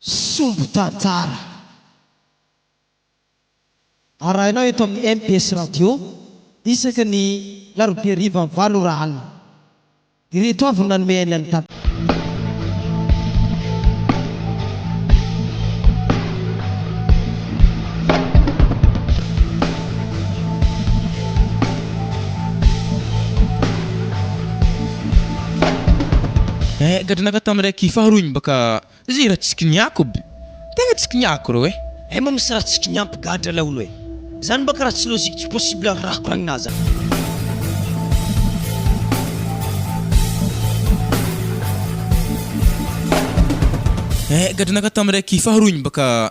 sombin-tantara arahinao eto amin'ny mbs Radio isaky ny larobia hariva valo ora alina. Ireto avy no nanome aina ny tantara. Eh gadra naka tam raiky faharoa igny baka zay raha tsy kiniako aby tegna tsy kiniako reo eh. Eh mba misy raha tsy kiniampy gadra laolo eh! Zany baka raha tsy logique tsy possible ny raha koragnina zany. Eh gadra naka tam raiky faharoa igny baka.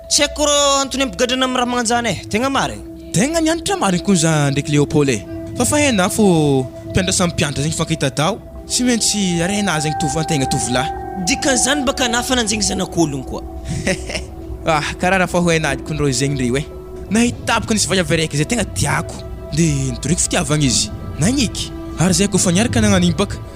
Tsy haiko rô antony ampigadrana am ramanjana eh! Tegna marigny. Tegna mianatra marigny koa za ndraiky Léopold eh! Fa fa hainao fô mpianatra samy mpianatra zegny hifankahita-daho, tsy maintsy arenazy zegny tovan-tegna tovolahy. Dikan'izany baka anah fa nanjegny zanak'ologno koa. Ah karaha raha fa ho hainahiko koa ndrô zegny reo eh! Nahitako ka nisy vaiavy araiky zay tegna tiako de nitoriako fitiavagna izy, nagniky ary zay kôfa niaraka nagnan'igny baka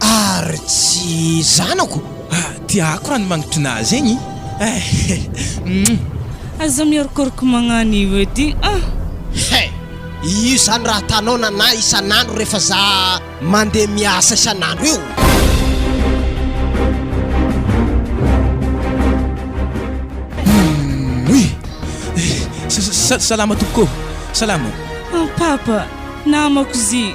Ary tsy zanako? Ah, tiako raha ny mangitrina azy egny eh! Aza miorokoroka magnano io edy ah! He! Io izany raha ataonao nanahy isan'andro rehefa za mandeha miasa isan'andro io! Umm-uy! Sa-sa-salama tompoko ô! Salama ô! An Papa, namako zy!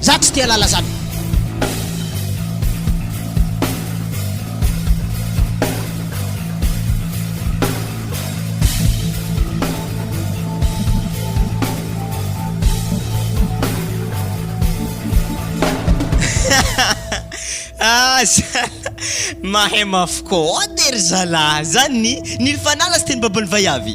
Za tsy tia lala zany. Aza mahay mafy koa. Ô de ry zalahy, zany ny nil fanala sy teny baban'ny vaiavy.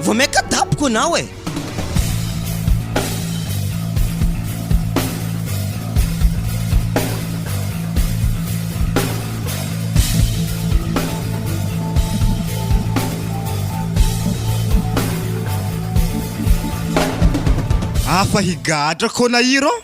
Vao maika dapoka ianao e! Afa higadra kona iro.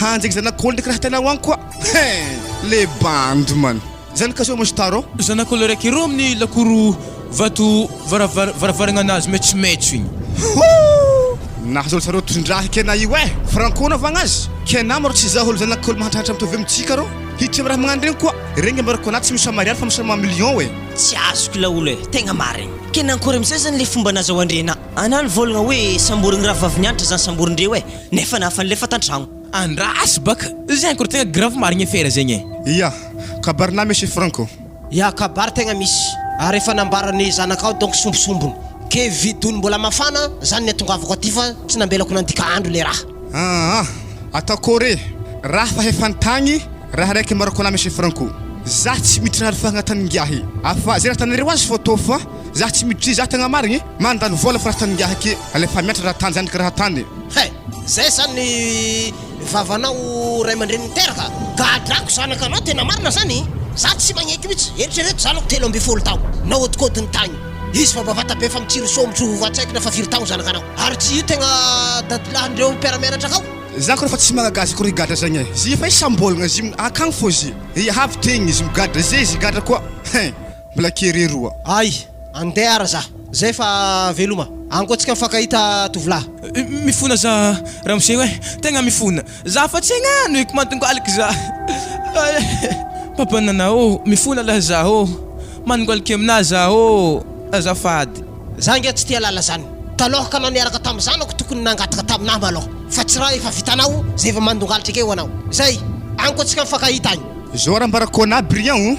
Hanjaka zanak'olona karaha hitanao any koa hein! Le bandy man! Zany ka soa mostar ô! Zanak'olona raiky ero amin'ny lakoro vato varavar varavaragna anazy maitsomaitso igny. Hoo! Nahazolo tsara tondraha i Kena io eh! Franco anaovagna azy? Kena ma rô tsy izaho olo zanak'olo mahantrahatra mitovy amintsika rô! Hiditra am raha magnano regny koa! Regny ambarako anà tsy misy mariary fa misy raha maha million eh! Tsy azoko laolo eh! Tegna marigny! Kena ankôry amizay zany le fomba nazahoandrienà anà nivôlagna hoe samborin'ny rahavaviny antitra zany samborindreo eh! nefa nafany lefa tantragno. Andraso baka zegny koro tegna grave marigny afera zegny e. Ya, kabary na misy franco. Ya, kabary tegna misy ary efa nambaran'ny zanakao donc sombisombiny ke vidony mbola mafana zany niatongavako aty fa tsy nambelako nandika andro le raha. Aa, atao kore raha fa efa nitagny raha raiky marco na misy franco. Za tsy miditra raha refa agnatiny ngiahy afa ze raha tanareo azy photo fa Zah tsy miditry zah tegna marigny e! Mandany vôla fa raha tany ngiahy ake alefa miantra raha tany zandriko raha tany e! He! Zay zany ny vavanao ray aman-dreny niteraka? Gadrako zanaka anao tena marina zany! Zah tsy magneky mitsy! Eritrereto zanako telo ambin'ny folo taogno nahodinkodiny tagny izy fa bavata be fa mitsiry soa mitry ho antsaikina fa firy taogno zanaka anao ary tsy io tegna dadilahin-dreo mpiara-mianatra akao? Zah kore fa tsy magagazy kore gadra zagny e! Zia fa izy sambolagna zio akagny fô zia! Iahavy tegny izy migadra zia izy higadra koa! He! Mbola kere roa ay. Andeha ara za zay fa veloma. Anko tsika mifankahita tovolahy. Mifona za ramose oe tegna mifona za fa tsy egna no eko mantongalika za papa nana ô mifona lah za ô manongalika amina za ô azafady. Za nge tsy tia lala zany taloha ka na niaraka tam zanako tokony nangataka tamina malôha fa tsy raha efa vitanao zay vao mandongalitra ake ho anao zay anko tsika mifankahita agny. Zao ara ambarako anah Brian o.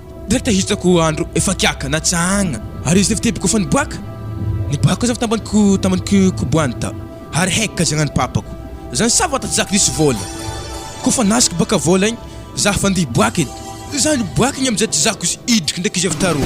Ndraiky te hitako andro efa kiaka na tsahagna ary izy efa tebiko efa niboaka Niboaka kosa fa tambany ko tambany ko koboany ta ary haiky ka zagnany papako Zany sabata tsy zaka nisy vôla ko fa nasiko baka vôla igny za fa ndeha hiboaka edy Za niboaka igny amizay tsy zako izy idriky ndraiky izy avy tarô.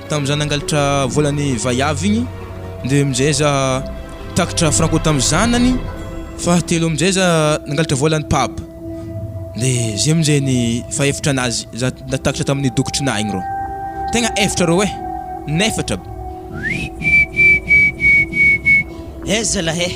Tamin'izaho nangalatra volan'ny vaiavy igny dia amin'izay za takitra franco tamin'ny zanany, fahatelo amin'izay za nangalatra volan'ny papa dia zay amin'izay ny fahefatra anazy za natakitra tamin'ny dokotry nahy igny rô, tegna efatra rô eh! in'efatra. He zalahy eh!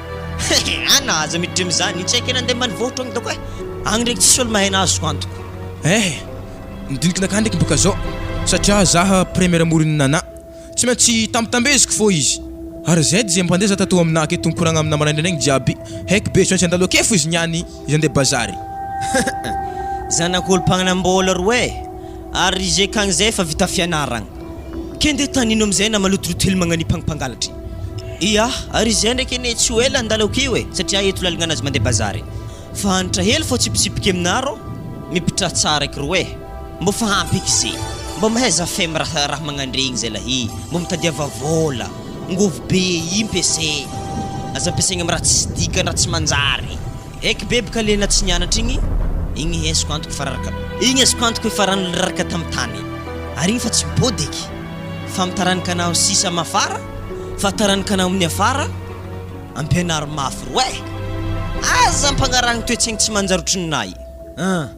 He he ana aza mi dream zany tsy aiko nandeha mbanivohitra agny doko e agny ndreky tsisy olo mahay nahazo antoko. Ehe, midiniky nakah ndreky boka zao satria zah premier amoron'ny nana tsy maintsy tambitambeziko fô izy ary zay dia mpandeha zah tatoa aminah aketo mikoragna aminah maraindraigna jiaby heky be tsy maintsy andalo akefo izy niany. Iza ndeha bazary? Zanak'olom-pananam-bola roa eh! Ary ry GK an'izay efa vita fianaragna. Ke ndeha tanino amin'izay na malotoloto hely magnanipagny mpangalatra. Ia, ary izay ndraiky anie tsy ho ela andalako io eh, satria eto lalagna anazy mandeha bazary. Fa hanitra hely fô tsipitsipika aminaro, mipitra tsara eky roe. Mbô fa ampy eky ze. Mbô mahaiza fem raha raha magnandregny zay lahy e. Mbô mitadiava vôla. Ngovy be impy ese. Aza ampiasaigny am raha tsisy dikany raha tsy manjary. Eky beby ka le na tsy nianatra igny, igny hesiko antoko fa raraka, igny azoko antoko efa rano lraraka tam tany ary igny fa tsy mipody eky fa mitaranika anao sisa am afara fa taranika anao aminy afara ampianaro mafy roe aza ampagnarahigny toetsaigny tsy manjary otrinay an!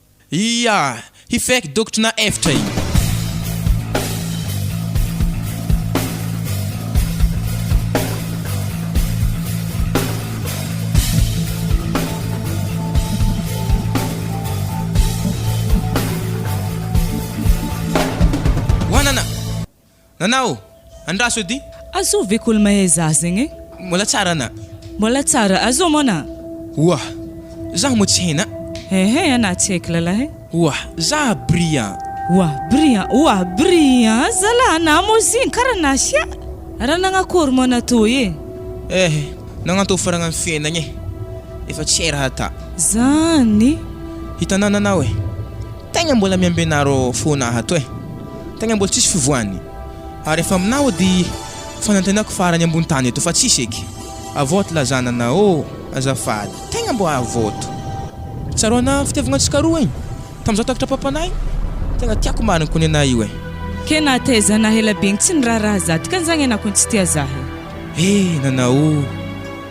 Ia! Hifeky dokotry na efitra iny. Nanao! Andraso eo di. Azoo ve kol mahay zah zegny e. Mbola tsara ana. Mbola tsara. Azoo mon a. Oa! Zah moa tsy hain a. Ehe ana tsy haiko lalah e. Oa! Zah Brian. Oa! Brian. Oa! Brian zalah ana moa zigny kara nasia. Raha nagnakory moa ana toy e. Ehe nagnantô faragna ny fiainagna e. Efa tsy hay raha ata. Zany. Hitanao nanao e. Tegna mbola miambenaro fona aho ato e! Tegna mbola tsisy fivoany ary efa aminao edy fanantenako farany ambony tany eto fa tsisy eky avoto lazana anao ô! Azafady tegna mbô avoto tsaroana fitiavagna antsika roa igny tam zah takatra papanahy tegna tiako marigny ko nenahy io e! Ke nahataiza anah ela be igny tsy niraharaha zah dikan'izagny anah ko tsy tia zah e! He nanao.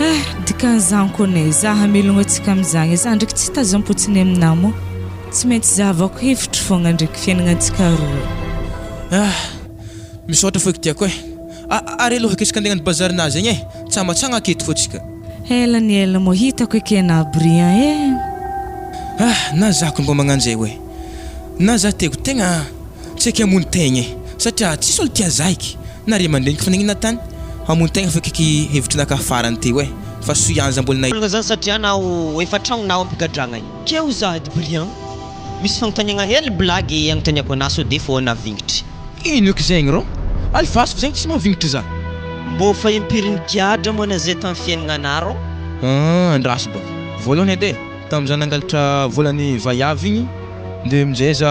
Eh, dikan'izany koa anie za hamelogno antsika amin'izany, za ndraiky tsy tazam-potsiny aminà moa. Tsy maintsy zahavako hevitro fogna ndraiky fiainagnantsika roa. Ah, misaotra fô kitiako eh. A, ary aloha aketrika andeha hagnano bazary nazy agny eh, tsy amantsagna aketo fô tsika. Ela ny ela moa hitako eky anà Brian eh. Ah, na za koa mbô magnan'izay oe. Na za te ho tegna tsy aiko hamono tegna eh, satria tsisy olo tia za eky. Na ry aman-dreniko fa nagnina tany hamono tegna fa kaiky hevitry naka farany teo eh fa soa ihany za mbola nahi Marina zany satria naho efa tragno naho ampigadragna e. Keo za ady brian. Misy fagnontaniagna hely blagy agnontaniako anah sao de foana vignitry. Ino eky zegny rô? Alefaso fa zegny tsy mahavignitry za. Mbô fa impiry nigadra moa ana zay tam fiaignanah rô? Ahh andraso ba voalohany edy e, tam za nangalatra vola ny vaiavy igny de amizay za.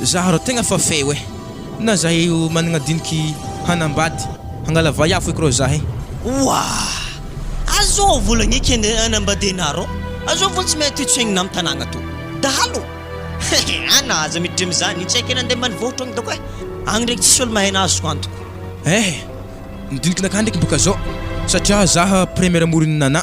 Za rô tegna fa feo eh. Na za io managna diniky hanambady hangala vay afo eky rô za eh. Ouah! Azo volagna eky anie hanambady anah rô, azo vao tsy mety tsohigna am tanagna to dahalo hehe anah aza miditra amizany io tsy aiko nande ambanivohitra agny dôko eh, agny ndreky tsisy olo mahay anah azoko antoko. Eh! Ny dinikinakah ndreky boka zao satria za premier amorin'i Nana.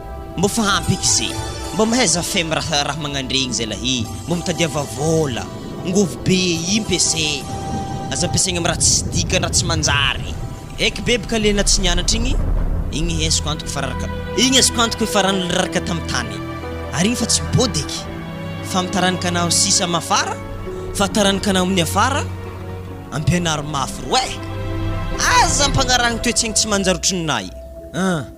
Mbô fa ampy eky ze. Mbô mahaiza fem raha raha magnandregny zay lahy mbô mitadiava vôla ngovo be imp ese aza ampiasaigny am raha tsisy dikany raha tsy manjary eky beb ka le na tsy nianatra igny igny hesiko antoko fa raraka igny azoko antoko efa rano le raraka tam tany ary igny fa tsy mipody eky fa am taranaky anao sisa am afara fa taranaky anao aminy afara ampianaro mafy roe aza ampagnarahagny toetsaigny tsy manjary otriny nahy an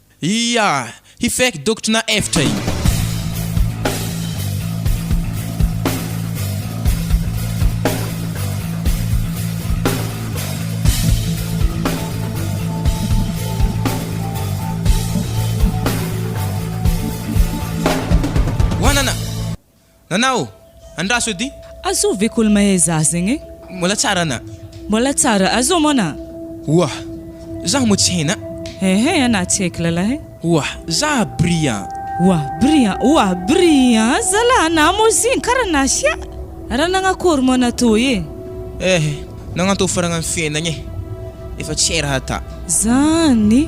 Ia! Hifeky dokotry na efitra iny. Nanao! Andraso edy! Azoo ve kol mahay zah zegny e? Mbola tsara ana. Mbola tsara. Azoo mon a. Oa! Zah moa tsy hainy a. Ehe ana tsy haiko lalah e. Oa! Zah Brian. Oa! Brian. Oa! Brian zalah ana moa zegny kara nasia. Raha nagnakory moa ana toy e? Ehe nagnantô faragna ny fiainagna e. Efa tsy hay raha ata. Zany.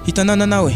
Hitanao nanao e.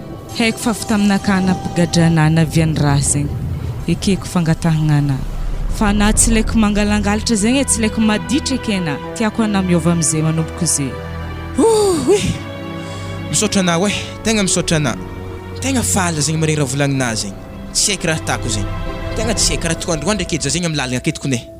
Haiko fa fitaminakana mpigadrana ana avy any raha zegny ekeko fangatahagnana fa ana tsy laiko mangalangalatra zegny e tsy laiko maditra eky ana tiako ana miova amizay manomboko ze Ooh ih! Misaotra anao eh! Tegna misaotra ana! Tegna faly zegny mare raha volagninà zegny! Tsy haiko raha atako zegny! Tegna tsy haiko! Raha toa androandro ake za zegny amy lalagna aketo kone!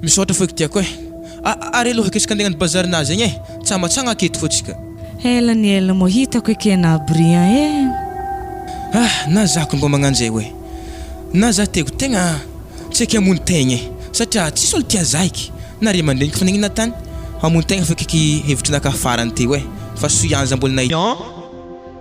Misaotra fo kitiako eh. A ary aloha aketrika andeha agnano bazary nazy agny eh. Tsamatsagna aketo fo tsika. Ela ny ela moa hitako eke na Brian eh. Ah na za ko mba magnanjay hoe. Na za teko tegna tsy aiko hamono tegna eh. Satria tsisy olo tia za eky. Na ry aman-dreniko fa nagnino tany. Hamono tegna fo eky ky hevitry naka farany teo eh. Fa soianza mbola nahita.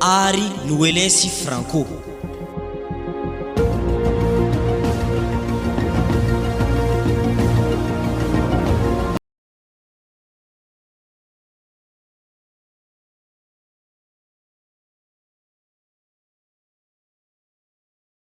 ary Noeles i Franco.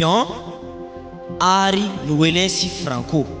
Jean ary Noelin sy Franco.